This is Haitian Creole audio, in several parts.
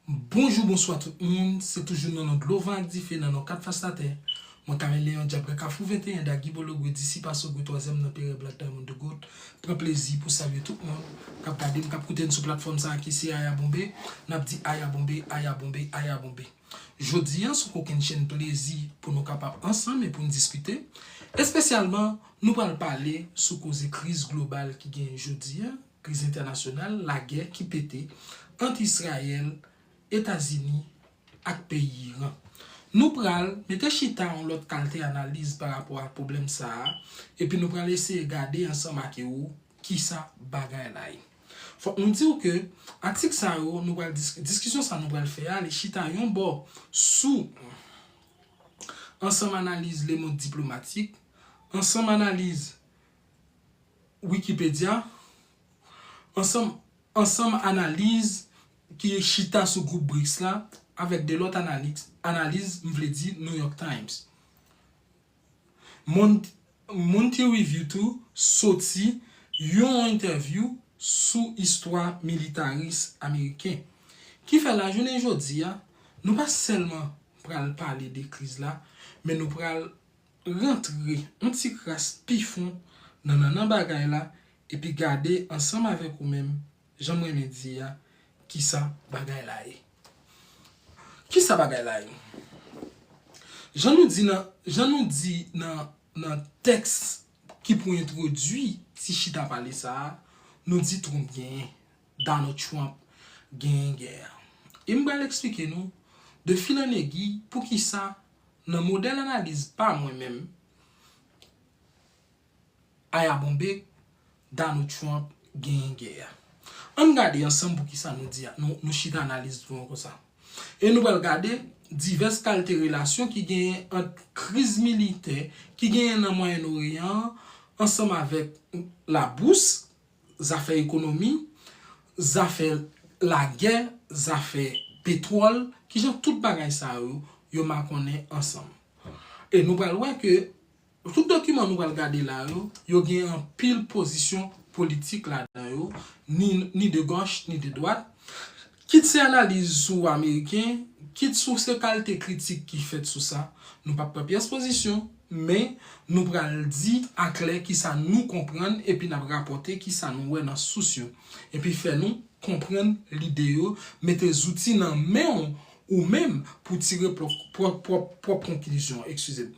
Bonjou bonswa tout moun, se toujou nan non dlo van ak dife nan non 4 fas latè, mwen Karen Leon Dyabre Kafou 21 da Gibolo Gwe Disipa So Gwe Twazyèm nan Pere Black Diamond The Goat pran plezi pou salye tout moun kap gade m kap koute m sou platfòm sa ki se Aya Bonbe nap di Aya Bonbe Aya Bonbe Aya Bonbe. Jodi a, sou kokenn chenn plezi pou nou kapab ansanm e pou n diskite. Espesyalman, nou pral pale sou koze kriz global ki genyen jodi a, kriz entènasyonal, lagè ki pete ant Israyèl, Etazini ak peyi Iran. Nou pral mete chita yon lòt kalte analiz pa rapò ak pwoblèm sa a epi nou pral eseye gade ansanm ake ou Kisa bagay la ye? Fòk nou di w ke atik sa yo nou pral diskite, diskisyon sa nou pral fè a, li chita yon bò sou ansanm analiz Le Monde Diplomatique, ansanm analiz Wikipedya, ansanm ansanm analiz ki chita sou gwoup BRICS la avèk de lòt analiz, analiz m vle di New York Times. Moun ki reviw tou soti yon entèvyou sou istwa militaris ameriken. Kifè lajounen jodi a, nou pa sèlman pral pale de kriz la, men nou pral rantre yon ti kras pi fon nan nannan bagay la epi gade ansanm avèk ou menm Janm renmen di a kisa bagay la ye. Kisa bagay la ye? Jan nou di nan jan nou di nan nan tèks ki pou entwodui ti chita pale sa a, nou di Trump genyen, Donald Trump genyen gè a. E m pral eksplike nou de fil an egui poukisa nan modèl analiz pa mwen menm, Aya bonbe, Donald Trump genyen gè a. An n gade ansanm pou ki sa nou di a, nou chita analize tou an konsa. E nou pral gade divès kalte relasyon ki genyen ant kriz militè ki genyen nan Mwayen Oryan an ansanm avèk labous, zafè ekonomi, zafè lagè, zafè petwòl, ki jan tout bagay sa yo, yo makonnen ansanm. E nou pral wè ke Tout dokiman nou pral gade la yo, yo gen anpil pozisyon politik ladan yo, ni de gòch, ni de dwat, kit se analiz sou ameriken, kit sou se kalte kritik ki fèt sou sa. Nou pap pran pyès pozisyon, men nou pral di aklè kisa nou konprann epi n ap rapòte kisa nou wè nan sous yo. Epi fè nou konprann lide yo, mete zouti nan men w ou menm pou w tire pwòp konklizyon w. Ekskize m.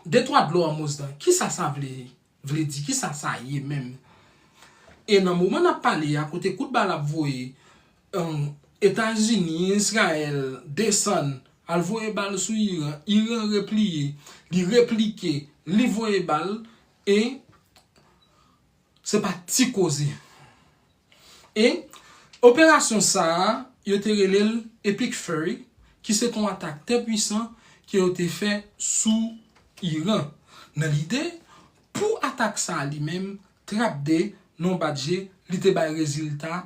De twa dlo an mous dan, kisa sa vle vle di, kisa sa ye menm? E nan moman n ap pale a, kote kout bal ap voye, Etazini, Izrayèl desann al voye bal sou Iran, Iran repliye, li replike, li voye bal e Se pa ti koze. E, operasyon sa a, yo te rele l Epic Fury, ki se te yon atak tè pwisan ke yo te fè sou Iran, nan lide pou atak sa a li menm, trap de non bat je, li te bay rezilta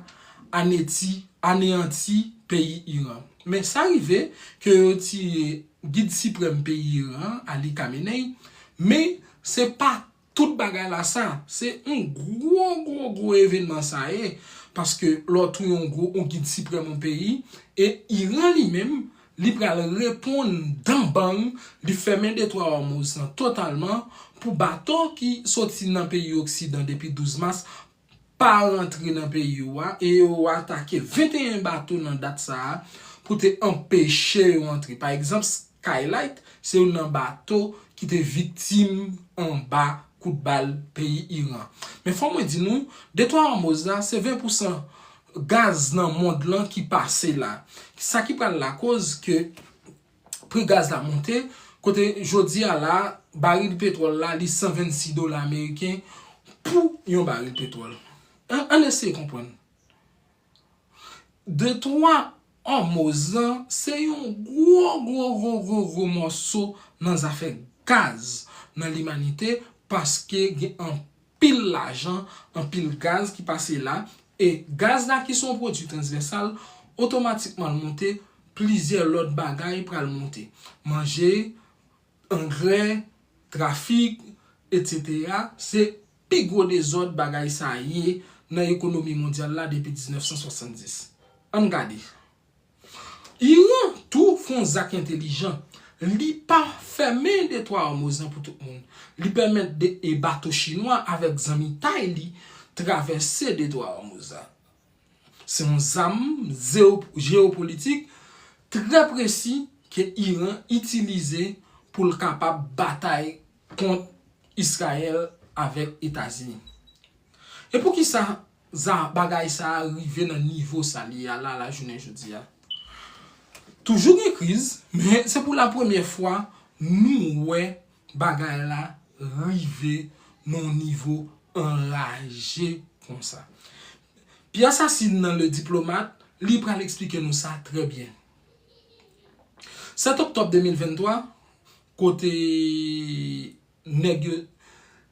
aneti, aneyanti peyi Iran. Men sa rive ke yo tiye gid siprèm peyi Iran an, Ali Khamenei, men se pa Tout bagay la sa, se yon gwo gwo gwo evenman sa ye, paske lè w touye yon gwo yon gid siprèm yon peyi, e Iran li menm, li pral reponn dan bang, li fèmen detwa Òmouz lan totalman, pou bato ki soti nan peyi oksidan depi 12 mas pa rantre nan peyi ou a e yo atake 21 bato nan dat sa a pou te anpeche yo antre. Pa egzanp, Skylight se youn nan bato ki te viktim anba kout bal peyi Iran. Men fò mwen di nou, Detwa Òmoz la se 20 pousan gaz nan mond lan ki pase la. Sa ki pral lakoz ke. pri gaz la monte, kote jodi a la a, baril petwòl la li 126 dola ameriken pou yon baril petwòl. Ann eseye konprann. De twa Òmoz lan, se yon gwo gwo gwo gwo gwo mòso nan zafè gaz nan limanite paske gen anpil. pil lajan, anpil gaz ki pase la, e gaz la ki se yon pwodui transvèsal, otomatikman l monte, plizyè lòt bagay pral monte. Manje, angrè, trafik, etsetera, se pi gwo dezòd bagay sa ye nan ekonomi mondyal la depi 1970. Ann gade. Iran tou fon zak entelijan, li pa fèmen detwa Ormouz lan pou tout moun, li pèmèt 2 bato chinwa avèk zanmitay li travèse detwa Ormouz la. Se yon zam jeopolitik trè presi ke Iran itilize pou l kapab batay kont Israel avèk Etazini. E poukisa Za bagay sa a rive nan nivo sa l ye a la lajounen jodi a. Toujou gen kriz, men se pou lapremyè fwa nou wè bagay la rive nan yon nivo anraje konsa. Pierre Sassine nan Le Diplomate, li pral eksplike nou sa trè byen. 7 oktòb 2023, kote nèg yo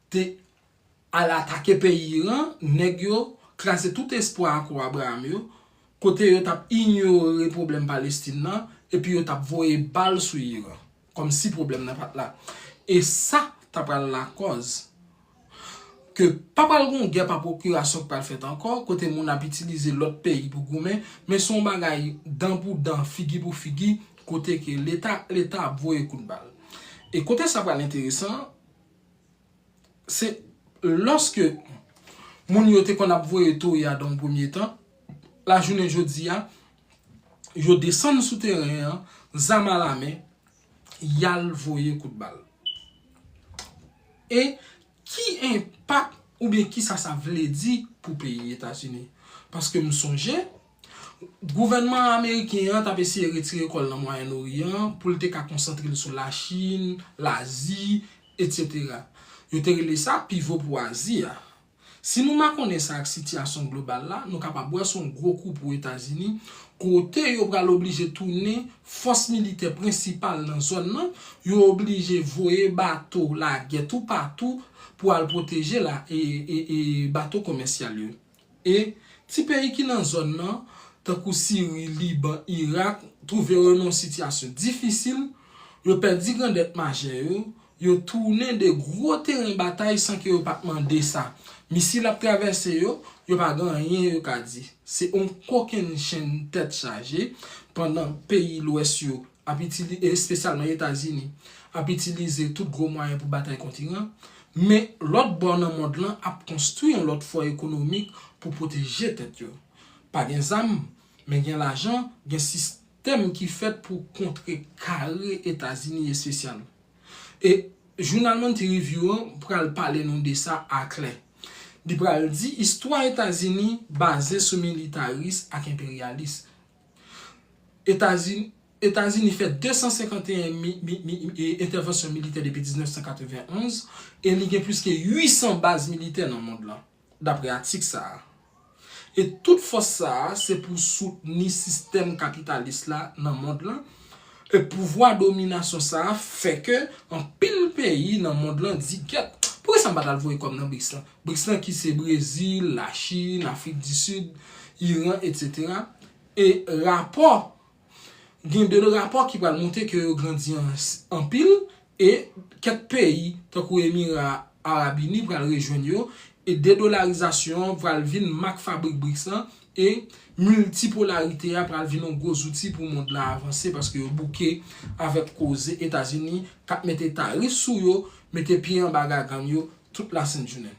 te al atake peyi Iran, nèg yo kraze tout espwa Akò Abraham yo, kote yo t ap inyore pwoblèm Palestin nan, epi yo t ap voye bal sou Iran, kòm si pwoblèm nan pa t la. E sa ta pral lakòz ke pa pral gen yon gè pa pwokirasyon ki pral fèt ankò, kote moun ap itilize lòt peyi pou goumen, men se yon bagay dan pou dan, figi pou figi, kote ke Leta ak Leta ap voye kout bal. E kote sa pral enteresan an, Se lòske moun yo te konn ap voye toye a dan yon premye tan, lajounen jodi a, yo desann sou teren an, zam alamen, y al voye kout bal. E ki enpak oubyen kisa sa vle di pou peyi Etazini? Paske m sonje, Gouvènman ameriken an t ap eseye retire kò l nan Mwayen Oryan an pou l te ka konsantre l sou Lachin, Lazi, etsetera. Yo te rele sa pivo pou Azi a. Si nou makonnen sa ak sitiyasyon global la, nou kapab wè se yon gwo kou pou Etazini kote yo pral oblije tounen fòs militè prensipal nan zòn nan, yo oblije voye bato lagè toupatou pou al pwoteje la e bato komèsyal yo. E, ti peyi ki nan zòn nan, tankou Siri, Liban, Irak, twouve yo nan yon sitiyasyon difisil, yo pèdi grandèt majè yo, yo tounen de gwo teren batay san ke yo pa t mande sa. Misil ap travèse yo, yo pa gen anyen yo ka di. Se yon kokennchenn tèt chaje, pandan peyi lwès yo ap itilize, e espesyalman Etazini, ap itilize tout gwo mwayen pou batay kont Iran, men lòt bò nan mond lan ap konstwi yon lòt fò ekonomik pou pwoteje tèt yo. Pa gen zam, men gen lajan, gen sistèm ki fèt pou kontre kare Etazini espesyal. E jounal Monthly Review an pral pale nou de sa aklè. Li pral di istwa Etazini baze sou militaris ak enperyalis, Etazini Etazini fè 251 entèvansyon militè depi 1991 e li gen plis ke 800 baz militè nan mond lan, dapre atik sa a. E tout fòs sa a se pou soutni sistèm kapitalis la nan mond lan, e pouvwa dominasyon sa a fè ke anpil peyi nan mond lan di, Gyèt, poukisa m pa t al voye kòb nan BRICS lan? Brics lan ki se Brezil, la Chine, Afrik di Sid, Iran etc. E rapò, gen de rapò ki pral montre ke yo grandi anpil e kèk peyi tankou Emira Arab Ini pral rejwenn yo e dedolarizasyon an pral vin mak fabrik Brics lan e miltipolarite a pral vin yon gwo zouti pou mond la avanse paske yo bouke avèk koze Etazini kap mete tarif sou yo, mete pye anba gagann yo Tout la sent jounen.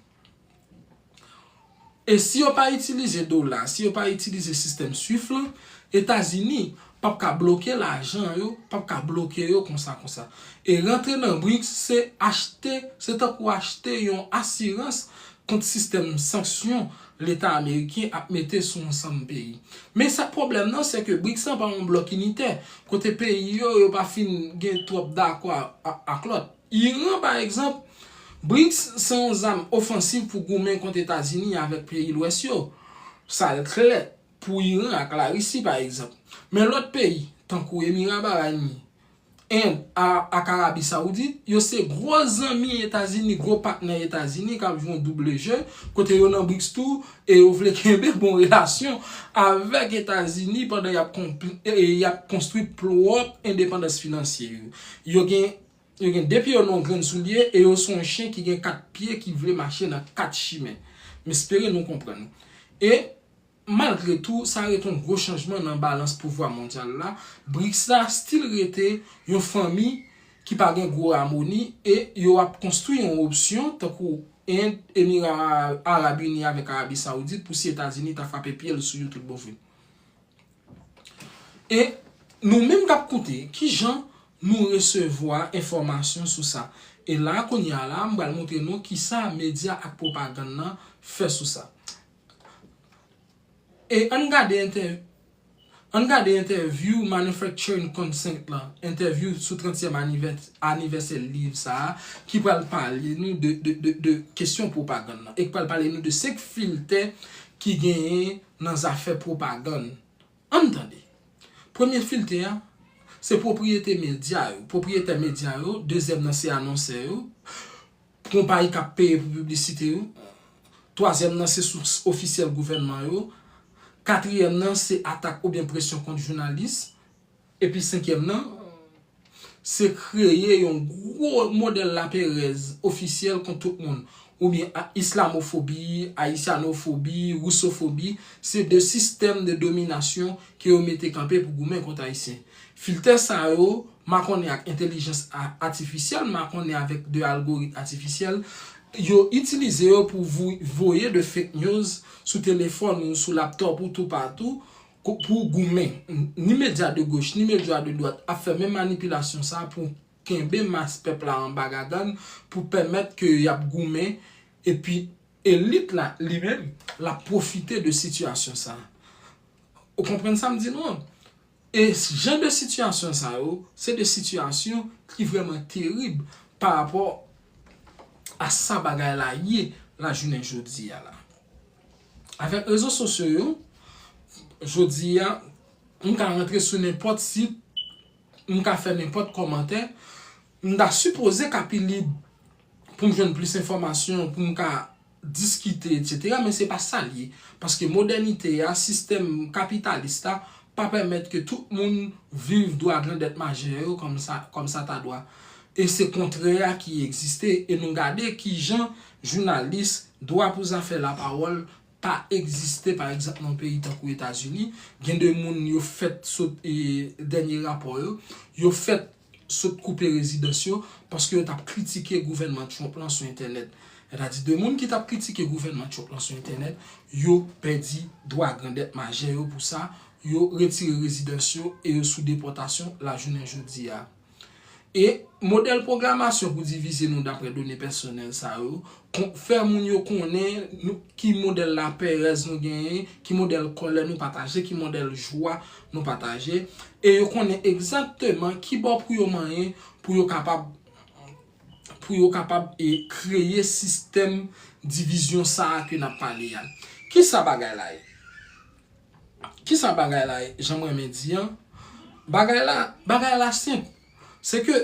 E si yo pa itilize dola, si yo pa itilize sistèm swift lan, Etazini pap ka bloke lajan yo, pap ka bloke yo konsa konsa. E rantre nan BRICS se achte, se tankou achte yon asirans kont sistèm sanksyon leta ameriken ap mete sou ansanm peyi. Men sa k pwoblèm nan se ke BRICS lan pa yon blòk initè, kote peyi yo yo pa fin gen twòp dakò ak lòt. Iran, pa egzanp, BRICS se yon zam ofansiv pou goumen kont Etazini avèk peyi Lwès yo. Sa l klè pou Iran ak Larisi, pa egzanp. Men lòt peyi, tankou Emira Barayini, End ak Arabi Sawoudit, yo se gwo zanmi Etazini, gwo patnè Etazini k ap jwe yon double je, kote yo nan BRICS tou e yo vle kenbe bon relasyon avèk Etazini pandan y ap konstwi pwòp endepandans finansye yo. Yo gen. Yo gen de pye yo nan yon grenn soulye e yo sou yon chen ki gen kat pye ki vle mache nan kat chimen. M espere nou konprann. E, malgre tou, sa rete yon gwo chanjman nan balans pouvwa mondyal la, BRICS la stil rete yon fanmi ki pa gen gwo amoni e yo ap konstwi yon opsyon tankou End, Emira Arab Ini avèk Arabi Saoudit pou si Etazini ta frape pye l sou yo tout bon vre. E nou menm k ap koute, ki jan nou resevwa enfòmasyon sou sa? E la a kounye a la a, m pral montre nou ki sa medya ak pwopagann nan fè sou sa. E ann gade entè, ann gade entèvyou Manufacturing Consent lan, entèvyou sou trantyèm anivè, anivèsè liv sa a, ki pral pale nou de, de, de, de kesyon pwopagann nan e k pral pale nou de senk filtè ki genyen nan zafè pwopagann. An n tande. Premye filte a, se pwopriyete medya yo, pwopriyetè medya yo, dezyèm nan se anonsè yo, konpayi k ap peye pou piblisite yo, twazyèm nan se sous ofisyèl gouvènman yo, katriyèm nan se atak oubyen presyon kont jounalis, Epi senkyèm nan, se kreye yon gwo modèl laperèz ofisyèl kont tout moun, oubyen islamofobi, ayisyanofobi, risofobi, se de sistèm de dominasyon ke yo mete kanpe pou goumen kont Ayisyen. Filtè sa yo, makonnen ak entelijans atifisyèl, makonnen avèk de algorit atifisyèl, yo itilize yo pou voye de fake news sou telefòn ou, sou laptop ou, toupatou, Pou w goumen, ni medya de goch, ni medya de dwat ap fè menm manipilasyon sa pou kenbe mas pèp la anba gagann, pou pèmèt ke y ap goumen, epi elit la li menm, l ap pwofite de sitiyasyon sa. Ou konprann sa m di nou an? E jan de sitiyasyon sa yo, se de sitiyasyon ki vrèman terib pa rapò a sa bagay la ye la jounen jodi a la. Avèk rezo sosyo yo, jodi a, m ka rantre sou nenpòt sit, m ka fè nenpòt kòmantè, m ta sipoze ka pi lib pou m jwenn plis enfòmasyon, pou m ka diskite, etsetera, men se pa sa l ye. Paske modènite a, sistèm kapitalis la, pa pèmèt ke tout moun viv dwa grandèt majè yo kòm sa ta dwa. E se kontrè a ki egziste, e nou gade ki jan Jounalis, dwa pou zafè lapawòl pa egziste pa egzanp nan yon peyi tankou Etazini, gen de moun yo fèt sot dènye rapò yo, yo fèt sot koupe rezidans yo paske yo t ap kritike gouvènman Trump lan sou entènèt. Sètadi de moun ki t ap kritike gouvènman Trump lan sou entènèt, yo pèdi dwa grandèt majè yo pou sa, yo retire rezidans yo e yo sou depòtasyon lajounen jodi a. E modèl pwogramasyon pou divize nou dapre done pèsonèl sa yo, fè moun yo konnen ki modèl laperèz nou genyen, ki modèl kòlè nou pataje, ki modèl jwa nou pataje, e yo konnen egzakteman ki bò pou yo manyen pou yo kapab pou yo kapab e kreye sistèm divizyon sa a ke n ap pale a. Kisa bagay la ye? Kisa bagay la ye janm renmen di an? Bagay la, bagay la senp. Se ke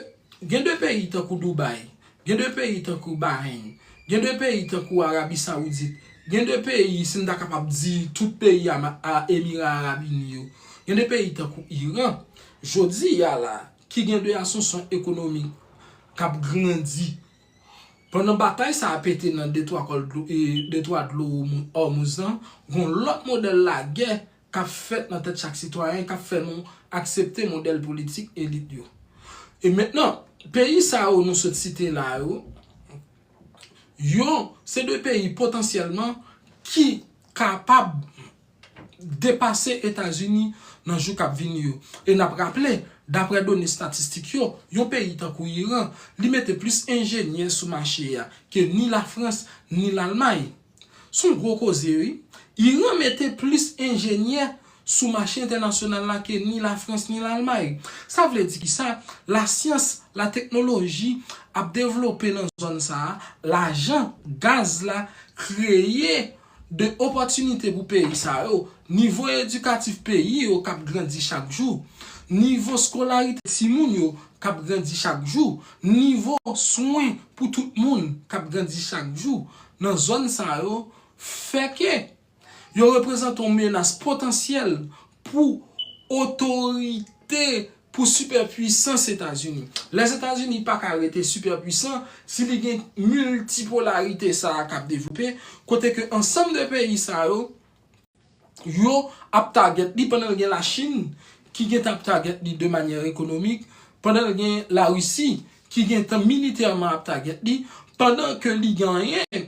gen de peyi tankou Dubai, gen de peyi tankou Bahrein, gen de peyi tankou Arabie Saoudite, gen de peyi si m ta kapab di tout peyi Emira Arab Uni yo, gen de peyi tankou Iran, jodi a la ki gen de asansyon ekonomik k ap grandi. Pandan batay sa a pete nan detwa dlo Òmouz lan, gon lòt modèl lagè k ap fèt nan tèt chak sitwayen k ap fè nou aksepte modèl politik elit yo. E mentnan, peyi sa yo nou sot site la yo, yo se de peyi potansyèlman ki kapab, depase Etazini nan jou k ap vini yo. E n ap raple, daprè done statistik yo, yon peyi tankou Iran, li mete plis enjenyè sou mache a ke ni Lafrans, ni Lalmay. S on gwo koze wi. Iran mete plis enjenyè sou mache entènasyonal la ke ni Lafrans, ni Lalmay. Sa vle di ki sa? Lasyans, lateknoloji ap devlope nan zòn sa a, lajan, gaz la kreye. de opòtinite pou peyi sa yo, nivo edikatif peyi yo k ap grandi chak jou, nivo skolarite timoun yo k ap grandi chak jou, nivo swen pou tout moun k ap grandi chak jou nan zòn sa yo, fè ke yo reprezante yon menas potansyèl pou otorite, pou sipèpwisans Etazini. Lèzetazini pa ka rete sipèpwisan si li gen miltipolarite sa a k ap devlope, kote ke ansanm de peyi sa yo, yo ap tagèt li pandan l gen Lachin ki gentan ap tagèt li de manyè ekonomik, pandan l gen Larisi ki gentan militèman ap tagèt li, pandan ke li genyen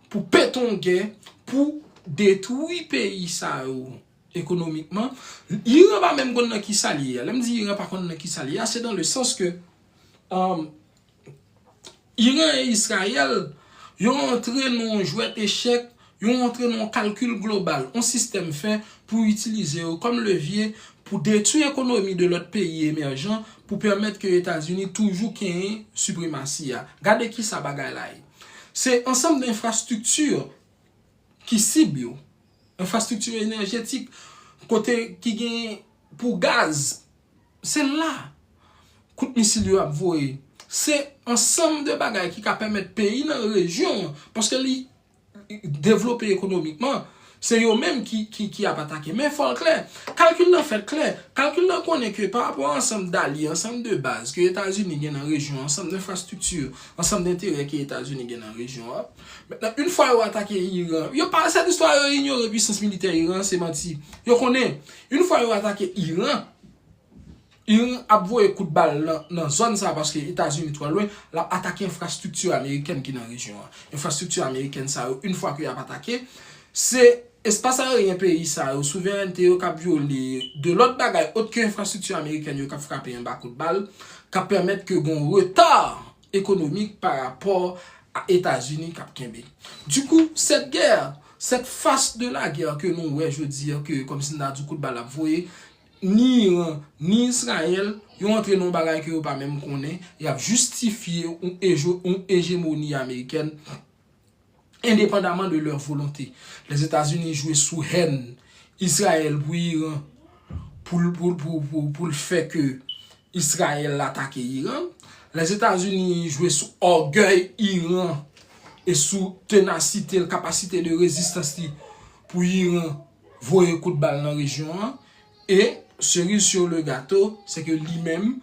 Pou petongue pou detwi peyi sa yo ekonomikman. Iran pa menm konn nan ki sa l ye a. Lè m di Iran pa konn nan ki sa l ye a, se dan le sans ke Iran e Israël yo antre nan yon jwèt echèk, yo antre nan yon kalkil global, yon sistèm fè pou itilize yo kòm levye pou detwi ekonomi de lòt peyi emèjan pou pèmèt ke Etazini toujou kenyen sipremasi a. Gade ki sa bagay la ye. Se ansanm de enfrastrikti ki sib yo, enfrastrikti enèjetik, kote ki gen pou gaz, se la kout misil yo ap voye. Se ansanm de bagay ki ka pèmèt peyi nan rejyon an, paske li devlope ekonomikman, Se yo menm ki ap atake. Men fòl klè. Kalkil lan fèt klè. Kalkil lan konnen ke pa rapò ansanm dalye, ansanm de baz ke Etazini gen nan rejyon an, ansanm denfrastrikti, ansanm denterè ke Etazini gen nan rejyon an. Mentnan, yn fwa yo atake Iran, yo pa, sèt istwa yo inyore pwisans militè Iran an, se manti. Yo konnen, yn fwa yo atake Iran, Iran ap voye kout bal nan zòn sa a paske Etazini twò lwen, l ap atake enfrastrikti amerikèn ki nan rejyon an. Enfrastrikti amerikèn sa yo, yn fwa ke y ap atake, se espas aeryen peyi sa yo, souverènte yo k ap vyole, de lòt bagay ot ke enfrastrikti amerikèn yo k ap frape anba kout bal, k ap pèmèt ke gen yon reta ekonomik pa rapò a Etazini k ap kenbe. Dikou, sèt gè, sèt fas de lagè ke nou wè jodi a ke kòmsi n ta di kout bal ap voye, Ni Iran, ni Israel, yo antre nan yon bagay ke yo pa menm konnen, y ap jistifye yon ejemoni amerikèn endepandaman de lè volonte. Lèzetazini jwe sou hèn Israel pou Iran pou l fè ke Israel atake Iran. Lèzetazini jwe sou ògèy Iran e sou tenasite l, kapasite de rezistans li pou Iran. voye kout bal nan rejyon an e seriz sur le gato se ke li menm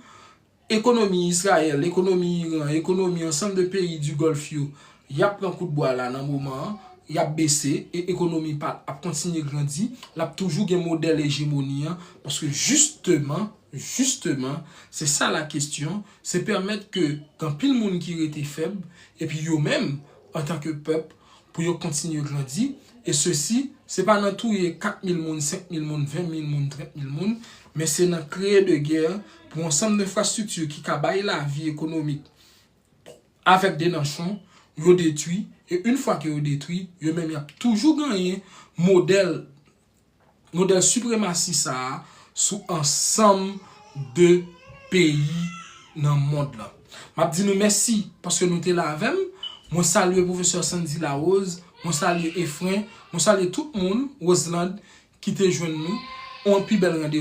ekonomi Israel, ekonomi Iran, ekonomi ansanm de peyi du Golf yo yap pran kout bwa la nan moman an yap bese e ekonomi pa ap kontinye grandi lap toujou gen modèl ejemoni an paske jisteman, jisteman se sa la kestyon se pèmèt ke gen anpil moun ki rete fèb epi yo menm antanke pèp pou yo kontinye grandi, e sesi, se pa nan touye 4 mil moun, 5 mil moun, 20 mil moun, 30 mil moun, men se nan kreye de gè pou ansanm denfrastrikti ki ka bay lavi ekonomik avèk de nanchon, yo detwi, e yn fwa ke yo detwi, yo menm y ap toujou ganyen modèl. Modèl sipremasi sa a sou ansanm de peyi nan mond lan. M ap di nou mèsi paske nou te la avè m. Mwen salye pwofesè Sandy Larose, mwen salye Efren, mwen salye tout moun, Roselande, ki te jwenn nou. On pi bèl randevou.